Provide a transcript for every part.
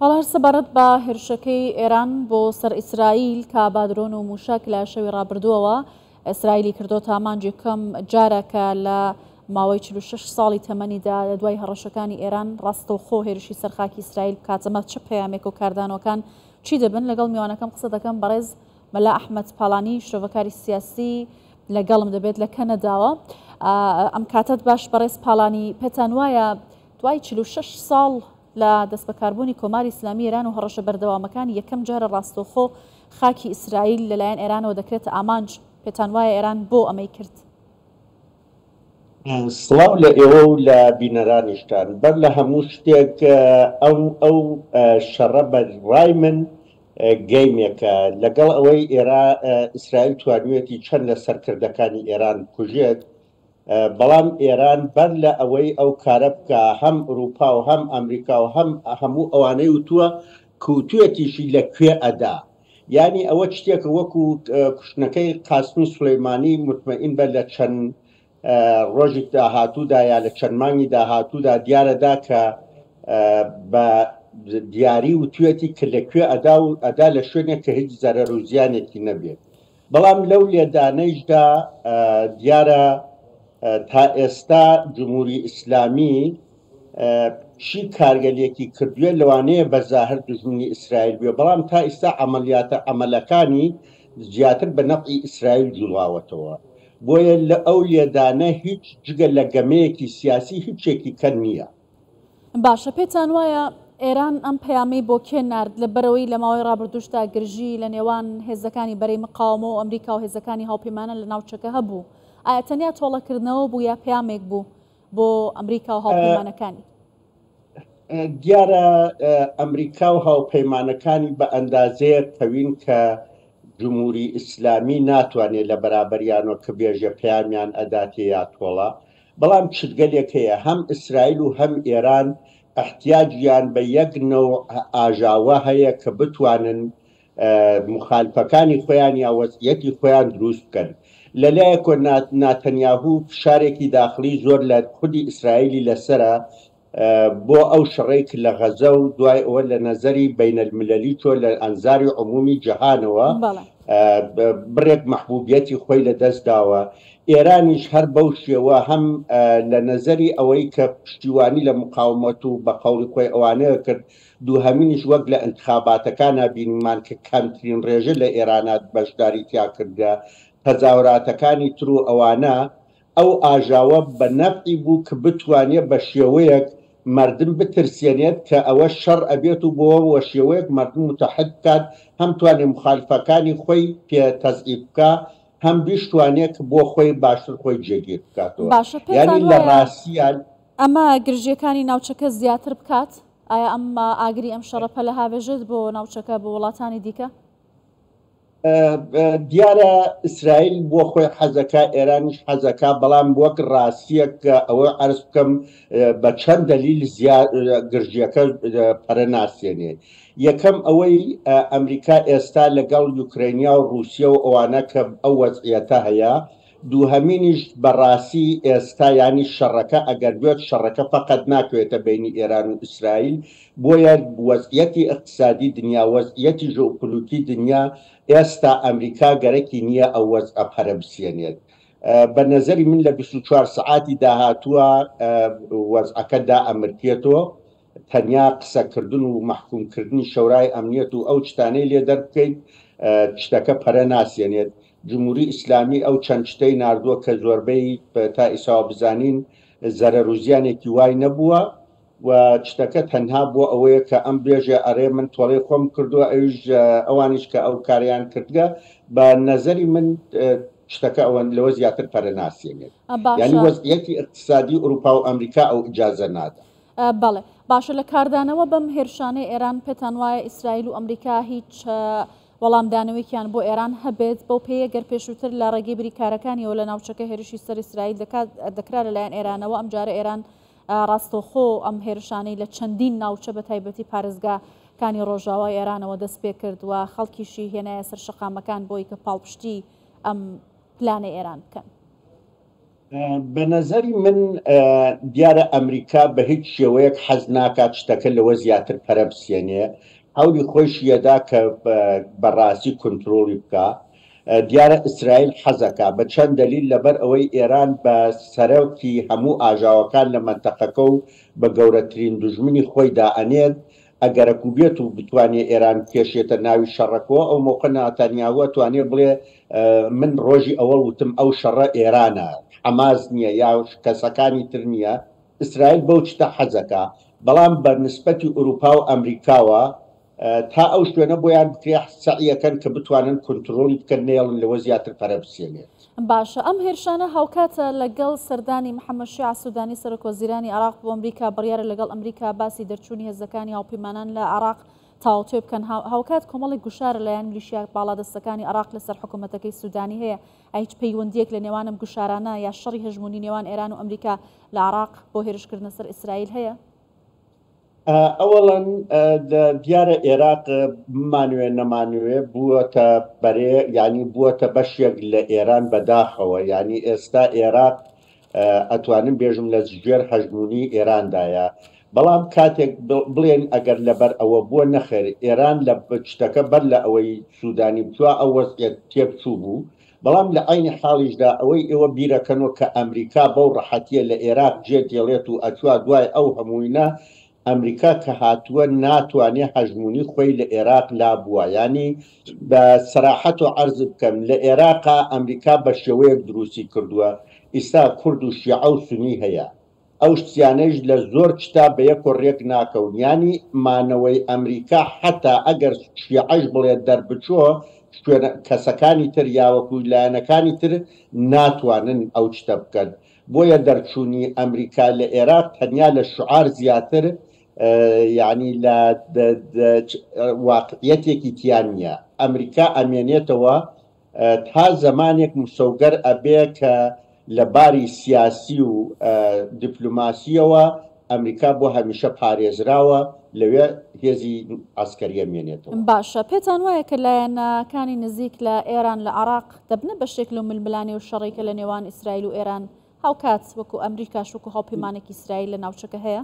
پاڵاش سەبارەت بە هێرشەکەی ئێران بۆ سەر ئیسرائیل کە با درۆن و مووشەک لە شەوی ڕابردووەوە ئیسرائیلی کردۆتە ئامانجی کەم جارە کە لە ماوەی 46 ساڵی تەمەنیدا لە دوای هەڕەشەکانی ئێران ڕاستەوخۆ هێرشی سەر خاکی ئیسرائیل بکاتەمە چ پەیامێک و کاردانەوەکان چی دەبن لەگەڵ میوانەکەم قسە دەکەم بەڕێز مەلا ئەحمد پاڵانی شرۆڤەکاری سیاسی لەگەڵم دەبێت لە کەنەداوە ئەم کاتت باش بەڕێز پاڵانی پێتان وایە دوای چل و شەش ساڵ لە دەستبەکاربوونی کۆماری ئیسلامی ئێران و هەڕەشە بەردەوامەکانی یەکەم جارە ڕاستەوخۆ خاکی ئیسرائیل لەلایەن ئێرانەوە دەکرێتە ئامانج، پێتان وایە ئێران بۆ ئەمەی کرد؟ سڵاو لە ئێوە و لە بینەرانیشتان. بەر لە هەموو شتێک ئەم ئەو شەڕە بە ڕای من گەیمێکە. لەگەڵ ئەوەی ئێرا ئیسرائیل توانیوێتی چەند لە سەرکردەکانی ئێران بکوژێت، بەڵام ئێران بەر لە ئەوەی ئەو کارە بکا هەم ئورووپا و هەم ئەمریکا و هەم هەموو ئەوانەی وتووە کوتوێتیشی لە کوێ ئەدا. یانی ئەوە چتێکە وەکوو کوشتنەکەی قاسمی سولەیمانی موتمەئین بە لە چەن ڕۆژی داهاتوو دا یا لە چەن مانگی داهاتوو دا دیارە دا کە بە دیاری وتوێتی کە لە کوێ ئەدا و ئەدا لە شوێنێک کە هیچ زەرەر و زیانێکی نەبێ. بەڵام لەو لێدانەیشدا دیارە تائێستا جمهوری ئیسلامی چی کارگەلێکی کردوێ لەوانەیە بەزاهر دژمنی ئیسرائیل بێ بەڵام تا ئیستا عملیاتە عملەکانی زیاتر بە نەفعی ئیسرائیل جوڵاوەتەوە بۆیە لە ئەو لێدانە هیچ جگە لە گەمەیەکی سیاسی هیچێکی کەن نییە. باشە پێتان وایە ئێران ئەم پەیامەی بۆ کێ نرد لە بەرەوەی لە ماوەی ڕابردوشدا گرژی لە نێوان هێزەکانی بەرەی مقاومە و ئەمریکا و هێزەکانی هاوپەیمانە لە ناوچەکە هەبوو ئایا تەنیا تۆڵەکردنەوە بوو یا پەیامێک بوو بۆ ئەمریکا و هاوپەیمانەکانی دیارە ئەمریکا و هاوپەیمانەکانی بە ئەندازەیە تەوین کە جمهوری ئیسلامی ناتوانێت لە بەرابەریانەوە کە بێژە پەیامیان ئەداتێ یا تۆڵە بەڵام چتگەلێک هەیە هەم ئیسرائیل و هەم ئێران ئیحتیاجیان بە یەک نەوع ئاژاوە هەیە کە بتوانن موخالفەکانی خۆیان یا وەزعیەتی خۆیان دروست بکەن. لە لایەکەوە ناتەنیاهو فشارێکی داخڵی زۆر لە خودی ئیسرائیلی لەسەرە بۆ ئەو شڕەی ک لە غەزە و دوای ئەوە لە نەزەری بەینەلمللی چۆ لە ئەنزاری عمومی جەهانەوە بڕێک مەحبوبیەتی خۆی لە دەست داوە ئێرانیش هەر بەو شێوە هەم لە نەزەری ئەوەی کە پشتیوانی لە مقاومەت و بە قەوڵی خۆی ئەوانەیە کرد دووهەمینیش وەک لە ئنتخاباتەکانا بینیمان کە کەمترین ڕێژە لە ئێرانا بەشداری تیا کردگە تەزاوراتەکانی تر و ئەوانە ئەو ئاژاوە بە نەفعی بوو ک بتوانێ بە شێوەیەک مەردم بترسێنێت ک ئەوە شەڕ ئەبێت و بۆ وە شێوەیەک مەردم موتەحد بکات هەم توانێ موخالفەکانی خۆی پێ تەزعیف بکا هەم بیشتوانێ ک بۆ خۆی باشتر خۆی جێگیر بکاتەوە باشە پێتان یانی لە وایە ڕاستیا ئەمە گرژیەکانی ناوچەکە زیاتر بکات؟ ئایا ئەم ئاگری ئەم شەڕە پەلە هاڤێژێت بۆ ناوچەکە بۆ وڵاتانی دیکە؟ دیارە ئیسرائیل بۆ خۆی حەزەکە ئێرانیش حەزەکە بەڵام وەک ڕاستیەک ئەوە عرز بکەم بە چەند دەلیل گرژیەکە پەرە ناسێنێ یەکەم ئەوەی ئەمریکا ئێستا لەگەڵ یوکرینیا و رووسیا و ئەوانە کە ئەو وەزعیەتە هەیە دووهەمینیش بەڕاستی ئێستا یانی شەڕەکە ئەگەر بێت شەڕەکە فەقەت ناکەوێتە بەینی ئێران و ئیسرائیل بۆیە وەزعیەتی ئیقتسادی دنیا وەزعیەتی ژئوپلوتی دنیا ئێستا ئەمریکا گەرەکی نیە ئەو وەزعە پەرە بسیەنێت بە نەزەری من لە بیست و چوار سەعاتی داهاتووە وەزعەکە دائەمرکێتۆ تەنیا قسە کردن و مەحکوم کردنی شەورای ئەمنیەت و ئەو چتانەی لێ دەربکەیت چتەکە پەرە ناسێنێت جموری ئیسلامی ئەو چەند چتەی ناردووە کە زۆربەی تا ئیساوە بزانین زەرەر و زیانێکی وای نەبووە و چتەکە تەنها بۆ ئەوەیە کە ئەم بێژێ ئەرێ من تۆڵەی خۆم کردووە ئەویش ئەوانیش کە ئەو کاریان کردگە بە نەزەری من شتەکە ئەوەن لەوە زیاتر پەرە ناسێنێت ینی وەزیەتی اقتصادی ئوروپا و ئەمریکا ئەو ئجازە نادە بەڵێ باشە لە کاردانەوە بەم هێرشانەی ئێران پێتان وایە ئیسرائیل و ئەمریکا هیچ وەڵامدانەوەیکیان بۆ ئێران هەبێت بەو پێیە گەر پێشووتر لە ڕێگەی بریکارەکانیەوە لە ناوچەکە هێرشی سەر ئیسرائیل دەکات دەکرا لەلایەن ئێرانەوە ئەم جارە ئێران ڕاستەوخۆ ئەم هێرشانەی لە چەندین ناوچە بە تایبەتی پارێزگا کانی ڕۆژاوای ئێرانەوە دەست پێ کرد و خەڵکیشی هێنایە سەر شەقامەکان بۆی کە پاڵپشتی ئەم پلانە ئێران بکەن بەنەزەری من دیارە ئەمریکا بە هیچ شێوەیەک حەز ناکات شتەکە لەوە زیاتر پەرە بسێنێ هەولی خۆش یەدا کە بەڕاستی کنترۆڵی بکە دیارە ئیسرائیل حەزەکە بە چەند دەلیل لەبەر ئەوەی ئێران بە سەرەوکی هەموو ئاژاوەکان لە مەنتەقەکە و بە گەورەترین دژمنی خۆیدا ئەنێت ئەگەرەکو بێت و بتوانێ ئێران بکێشێتە ناوی شەڕەکۆ ئەو مەوقە ناتانیاهو ئەتوانێ بڵێ من ڕۆژی ئەوەڵ وتم ئەو شەڕە ئێرانە حەماس نیە یا کەسەکانی تر نیە ئیسرائیل بەو شتە حەزەکا بەڵام بە نسبەتی ئوروپاو ئەمریکاوە تا ئەو شوێنە بۆیان بکرێ سەعیەکەن کە بتوانن کونترۆڵی بکەن نەیەڵن لەوە زیاتر پەرە بسێنێت. باشە ئەم هێرشانە هاوکاتە لەگەڵ سەردانی محەممەد شیع سوودانی سەرۆکوەزیرانی عێراق بۆ ئەمریکا بڕیارە لەگەڵ ئەمریکا باسی دەرچوونی هێزەکانی هاوپەیمانان لە عێراق تاوتوێ بکەن هاوکات کۆمەڵی گوشارە لەلایەن میلیشیا باڵادەستەکانی عراق لەسەر حکوومەتەکەی سوودانی هەیە ئەیچ پەیوەندیەک لە نێوانم گوشارانە یا شەڕی هەژمونی نێوان ئێران و ئەمریکا لە عراق بۆ هێرشکردنە سەر ئیسرائیل هەیە ئەوەڵەن دیارە ئێراق بمانوێ نەمانوێ بووەتە بەرێ ینی بووەتە بەشێک لە ئێران بەداخەوە ینی ئێستا ئێراق ئەتوانم بێژم لە جگوێر هەژمونی ئێراندایە بەڵام کاتێک بڵێن ئەگەر لەبەر ئەوە بووە نەخێر ئێران لە بچتەکە بەر لە ئەوەی سوودانی بچوە ئەو وەزعەت تێبچوو بوو بەڵام لە عەینی حاڵیشدا ئەوەی ئێوە بیرەکەنۆ کە ئەمریکا بەو ڕەحەتیە لە ئێراق جێ دێڵێت و ئەچوا دوای ئەو هەمووینە ئەمریکا کە هاتووە ناتوانێ هەژموونی خۆی لە ئێراق لا بووە یانی بە سەراحەتۆ عەرز بکەم لە ئێراقا ئەمریکا بە شێوەیەک دروستی کردووە ئیستا کورد و شیعە و سونی هەیە ئەو شتیانەیش لە زۆر کتاب بە یەک و رێک ناکەون یانی مانەوەی ئەمریکا حەتا ئەگەر شیعەش بڵێ دەربچۆ شوێنە کەسەکانی تر یاوەکو لایەنەکانی تر ناتوانن ئەو شتە بکەن بۆیە دەرچونی ئەمریکا لە ئێراق تەنیا لە شعار زیاتر یانی لە واقعیەتێکی تیا نیە ئەمریکا ئەمێنێتەوە تا زەمانێک مسۆگەر ئەبێ کە لە باری سیاسی و دیپلۆماسییەوە ئەمریکا بۆ هەمیشە پارێزراوە لەوێ هێزی عەسکەریی مێنێتەوە. باشە پێتان وایە کە لایەنە کانی نزیک لە ئێران لە عێراق دەبنە بەشێک لەو ململانێ و شەڕەی کە لە نێوان ئیسرائیل و ئێران هاوکات وەکو ئەمریکاش وەکو هاوپیمانێکی ئیسرائیل لە ناوچەکە هەیە؟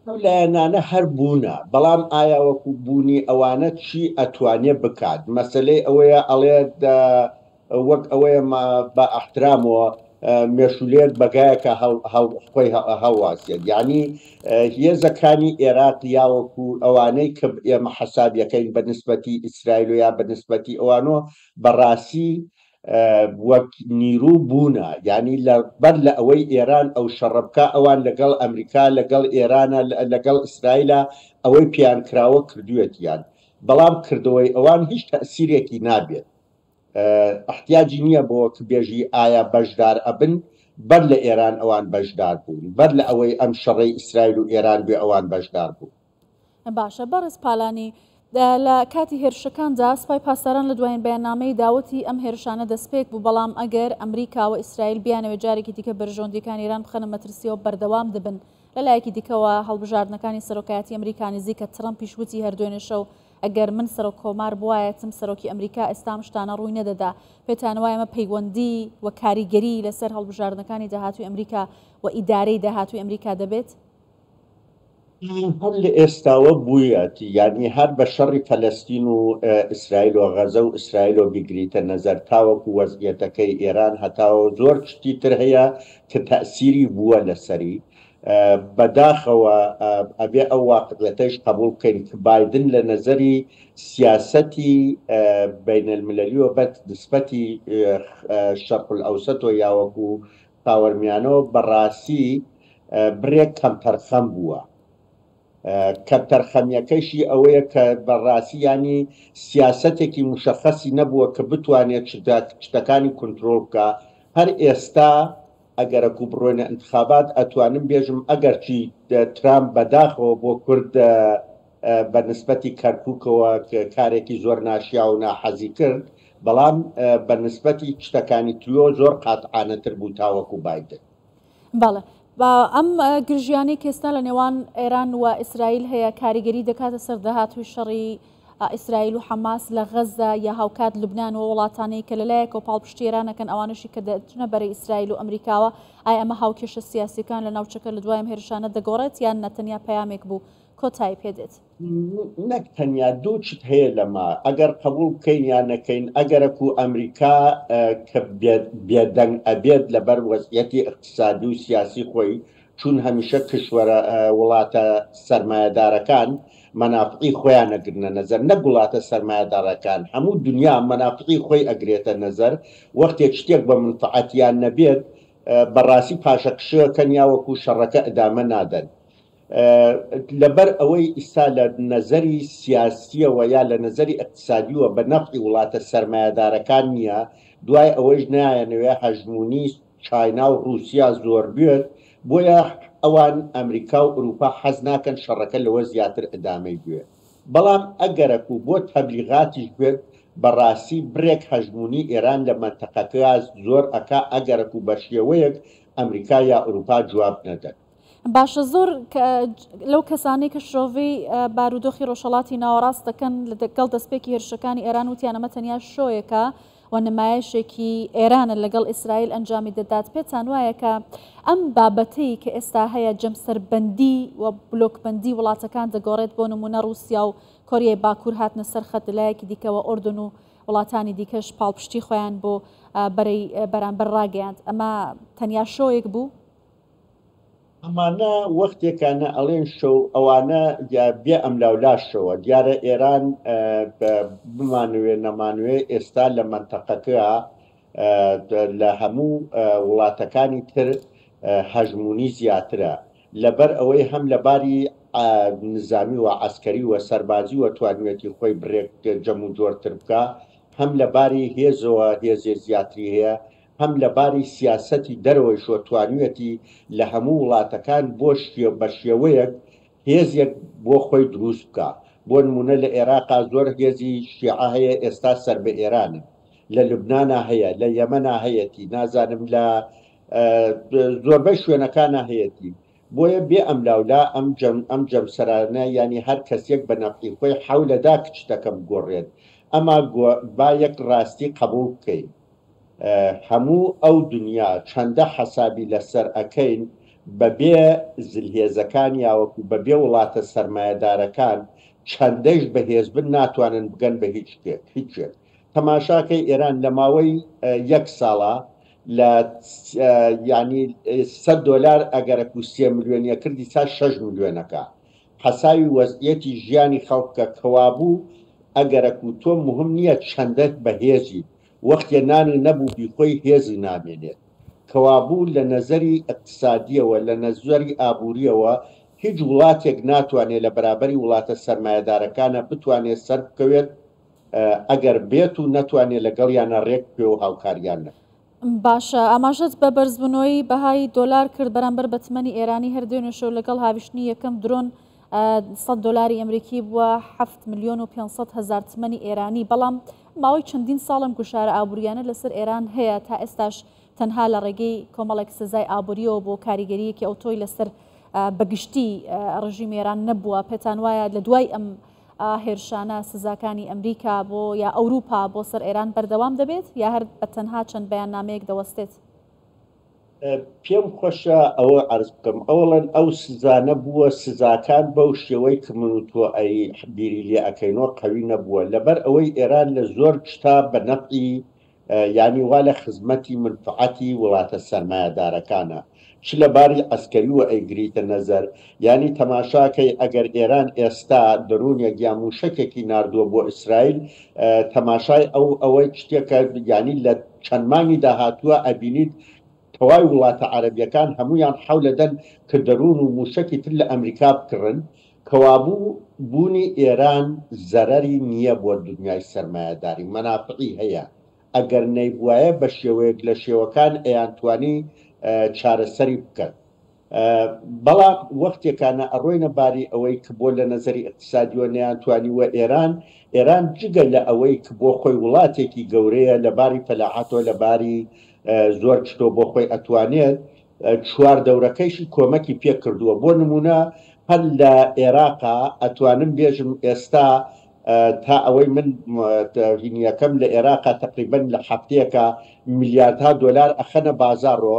ئەو لایەنانە هەر بوونە بەڵام ئایا وەکو بوونی ئەوانە چی ئەتوانێ بکات مەسەلەی ئەوەیە ئەڵێت وەک ئەوەیە ما بە ئەحترامەوە مێشولێک بەگایەکە خۆی هەڵواسێت یعنی هێزەکانی ئێراق یاوەکو ئەوانەی کە ئێمە حەسابیەکەین بە نسبەتی ئیسرائیل و یا بە نسبەتی ئەوانۆ بەڕاستی وەک نیرو بوونە یانی لە بەر لە ئەوەی ئێران ئەو شەڕە بکا ئەوان لە گەڵ ئەمریکا لە گەڵ ئێرانە لە گەڵ ئیسرایلە ئەوەی پێیان کراوە کردویەتیان بەڵام کردەوەی ئەوان هیچ تەئسیرێکی نابێت ئەحتیاجی نیە بۆ وەک بێژی ئایا بەشدار ئەبن بەر لە ئێران ئەوان بەشدار بوون بەر لە ئەوەی ئەم شەڕەی ئیسرایل و ئێران بێ ئەوان بەشدار بوون. باشە بەڕێز پالانی لە کاتی هێرشەکاندا سپای پاسداران لە دوایین بەیاننامەی داوەتی ئەم هێرشانە دەستپێک بوو بەڵام ئەگەر ئەمریکا و ئیسرائیل بیانەوێت جارێکی دیکە بەرژەوەندیەکان ایران بخەنە مەترسیەوە بەردەوام دەبن لە لایەکی دیکەوە هەڵبژاردنەکانی سەرۆکایەتی ئەمریکا نزیکە ترەمپیش وتی هەر دوێنێ شەو ئەگەر من سەرۆک کۆمار بوایەتم سەرۆکی ئەمریکا ئێستام شتانە ڕووی نەدەدا پێتان وایە مە پەیوەندی و کاریگەری لەسەر هەڵبژاردنەکانی داهاتوی ئەمریکا و ئیدارەی داهاتوی ئەمریکا دەبێت ی هەر لە ئێستاوە بویەتی یانی هەر بە شەڕی فەلەستین و ئیسرائیل و غەزە و ئیسرائیل و بیگریتە نەزەر تاوەکو وەزعیەتەکەی ئێران هەتاوە و زۆر شتی تر هەیە ک تەئسیری بوە لە سەری بە داخەوە ئەبێ ئەو واقعیەتەیش قەبوڵ بکەین ک بایدن لە نەزەری سیاسەتی بەینەلمللی و بە نسبەتی شەرقلئەوسەت و یاوەکو خاوەرمیانۆ بەڕاستی بڕێک کەمتەرخەم بووە، کەمتەرخەمیەکەیشی ئەوەیە کە بەڕاستی یانی سیاسەتێکی موشەخەسی نەبووە کە بتوانێت شتەکانی کونترۆڵ بکا، هەر ئێستا ئەگەرەکو بڕۆینە ئینتخابات ئەتوانم بێژم ئەگەرچی ترامپ بەداخەوە بۆ کورد، بە نسبەتی کەرکوکەوە کارێکی زۆر ناشیاو و ناحەزی کرد، بەڵام بە نسبەتی شتەکانی تریۆ زۆر قاتعانە تر بوو تاوەکو بایدن. بەڵێ ئەم گرژیانەی کێستا لە نێوان ئێران و ئیسرائیل هەیە کاریگەری دەکاتە سەر داهاتوی شەڕی ئیسرائیل و حەماس لە غەزدا یا هاوکات لبنان و وڵاتانەی کە لەلایەکەوە پاڵپشتی ئێرانەکەن ئەوانەشی کە دەچنە بەرەی ئیسرائیل و ئەمریکاوە ئای ئەمە هاوکێشە سیاسیەکان لە ناوچەکە لە دوایم هێرشانە دەگۆڕێت یان نەتەنیا پەیامێک بوو کۆتایی پێ دێت. نەک تەنیا دوو چت هەیە لەمە ئەگەر قەبوڵ بکەین یا نەکەین ئەگەرەک و ئەمریکا کە بێدەنگ ئەبێت لەبەر وەزعیەتی ئیقتسادی و سیاسی خۆی چوون هەمیشە کشوەرە وڵاتە سەرمایەدارەکان مەنافعی خۆیان ئەگرنە نەزەر نەک وڵاتە سەرمایەداڕەکان هەموو دنیا مەنافعی خۆی ئەگرێتە نەزەر وەختێک شتێک بە منفعەتیان نەبێت بەڕاستی پاشەکشێ ئەکەن یا وەکوو شەڕەکە ئدامە نادەن. لەبەر ئەوەی ئیستا لە نەزەری سیاسییەوە یا لە نەزەری ئیقتسادیوە بە نەفعی وڵاتە سەرمایەدارەکان نییە، دوای ئەوەیش نایانەوێ هەژموونی چاینا و ڕووسیا زۆر بوێت، بۆیە ئەوان ئەمریکا و ئورووپا حەز ناکەن شەڕەکە لەوە زیاتر ئیدامەی بوێت. بەڵام ئەگەرەک و بۆ تەبلیغاتیش بوێت، بە ڕاستی بڕێک هەژموونی ئێران لە مەنتەقەکە زۆر ئەکا ئەگەرەک و بە شێوەیەک ئەمریکا یا ئورووپا جواب نەدەن. باشە زۆر لەو کەسانەی کە شرۆڤەی بارودۆخی ڕۆژهڵاتی ناوەڕاست دەکەن لەگەڵ دەستپێکی هێرشەکانی ئێران وتیان ئەمە تەنیا شۆیەکە و نمایشێکی ئێرانە لەگەڵ ئیسرائیل ئەنجامی دەدات پێتان وایە کە ئەم بابەتەی کە ئێستا هەیە جەمسەربەندی و بلۆکبندی وڵاتەکان دەگۆڕێت بۆ نمونە رووسیا و کۆریای باکوور هاتنە سەر خەت لایەکی دیکەوە ئۆردن و وڵاتانی دیکەش پاڵپشتی خۆیان بۆ بەرەی بەرامبەر ڕاگەیاند ئەمە تەنیا شۆیەک بوو ئەمانە وەختێکانە ئەڵێن شەو ئەوانە یا بێ ئەملاو لاش شەوە دیارە ئێران بمانوێ نەمانوێ ئێستا لە مەنتەقەکە لە هەموو وڵاتەکانی تر هەژمونی زیاترە لەبەر ئەوەی هەم لە باری نزامی و عەسکەری و سەربازی و توانیوێتی خۆی بڕێک جەم و جۆرتر بکا هەم لە باری هێزەوە هێزێ زیاتری هەیە هەم لە باری سیاسەتی دەرەوەیش و توانیویەتی لە هەموو وڵاتەکان بۆ بە شێوەیەک هێزێک بۆ خۆی دروست بکا بۆ نموونە لە ئێراقا زۆر هێزی شیعە هەیە ئێستا سەر بە ئێرانن لە لوبنانا هەیە لە یەمەنا هەیەتی نازانم لە زۆربەی شوێنەکانا هەیەتی بۆیە بێ ئەملاولا ئەم جەم ئەم جەمسەرانە یانی هەر کەسێک بە نەفعی خۆی حەولەدا کچتەکە بگۆڕێت ئەما با یەک ڕاستی قەبووڵ بکەین هەموو ئەو دنیا چەندە حەسابی لەسەر ئەکەین بەبێ زلهێزەکان یاوەکو بەبێ وڵاتە سەرمایەدارەکان چەندەش بەهێزبن ناتوانن بگەن بە هیچ شتێک هیچ شتێک تەماشاکەی ئێران لەماوەی یەک ساڵا لە یانی سەد دۆلار ئەگەرەکو سێ ملیۆنی ئەکرد ئیستا شەش ملیۆن ئەکا حەساوی وەزعیەتی ژیانی خەڵک بکە کەوابوو ئەگەرەکو تۆ مهم نیە چەندە بەهێزیت وەختێ نانی نەبوو بیخۆی هێزی نامێنێت. کەوابوو لە نەزەری ئیقتسادییەوە، لە نەزەری ئابوورییەوە هیچ وڵاتێک ناتوانێت لە بەرابەری وڵاتە سەرمایەدارەکانە بتوانێت سەربکەوێت ئەگەر بێت و نەتوانێت لەگەڵیانا رێک بکەوێ و هاوکاریان نەکات. باشە ئاماژەت بە بەرزبونەوەی بەهای دۆلار کرد بەرامبەر بە تمەنی ئێرانی، هەر دوێنێ شەو لەگەڵ هاویشتنی یەکەم درۆن سەد دۆلاری ئەمریکی بووە حەفت ملیۆن و پێنج سەد هەزار تمەنی ئێرانی، بەڵام ماوەی چەندین ساڵە ئەم گوشارە ئابوورییانە لەسەر ئێران هەیە، تا ئێستاش تەنها لە ڕێگەی کۆمەڵێک سزای ئابوورییەوە بووە، کاریگەرییەکی ئەوتۆی لەسەر بە گشتی ڕژیمی ئێران نەبووە. پێتان وایە لە دوای ئەم هێرشانە سزاکانی ئەمریکا بۆ یا ئەوروپا بۆ سەر ئێران بەردەوام دەبێت یا هەر بە تەنها چەند بەیاننامەیەک دەوەستێت؟ پێم خۆشە ئەوە عرض بکەم ئەوڵەن ئەو سزانە بووە سزاکان بەو شێوەی کە من و تۆ ئەی بیری لێ ئەەکەینەوە قوی نەبووە لەبەر ئەوەی ئێران لە زۆر شتا بە نەفعی ینی وا لە خزمەتی منفعەتی وڵاتە سەرمایەدارەکانە چ لە باری ئەسکەوی و ئەیگریتە نەزەر یانی تەماشاکەی ئەگەر ئێران ئێستا دەرونێک یا موشەکێکی ناردوە بۆ ئیسرائیل تەماشای ئەو ئەوە شتێکە یانی لە چەند مانگی داهاتوە ئەبینیت تەوای وڵاتە عەرەبیەکان هەمویان حەولەدەن کە دەرون و موشەکی تر لە ئەمریکا بکڕن کەوابوو بونی ئێران زەرەری نیە بۆ دنیای سەرمایەداری مەنافعی هەیە ئەگەر نەیبوایە بە شێوەیەک لە شێوەکان ئەیانتوانی چارەسەری بکەن. بەڵام وەختێکانە ئەڕۆینە باری ئەوەی ک بۆ لە نەزەری ئیقتسادیوە نەیانتوانیووە ئێران ئێران جگە لە ئەوەی ک بۆ خۆی وڵاتێکی گەورەیە لە باری فەلاحەتۆ لە باری زۆر چتۆ بۆ خۆی ئەتوانێت چوار دەورەکەیشی کۆمەکی پێ کردووە بۆ نموونە هەر لە ئێراقا ئەتوانم بێژم ئێستا تا ئەوەی من هینیەکەم لە ئێراقا تەقریبەن لە حەفتەیەکا میلیاردها دۆلار ئەخەنە بازاڕۆ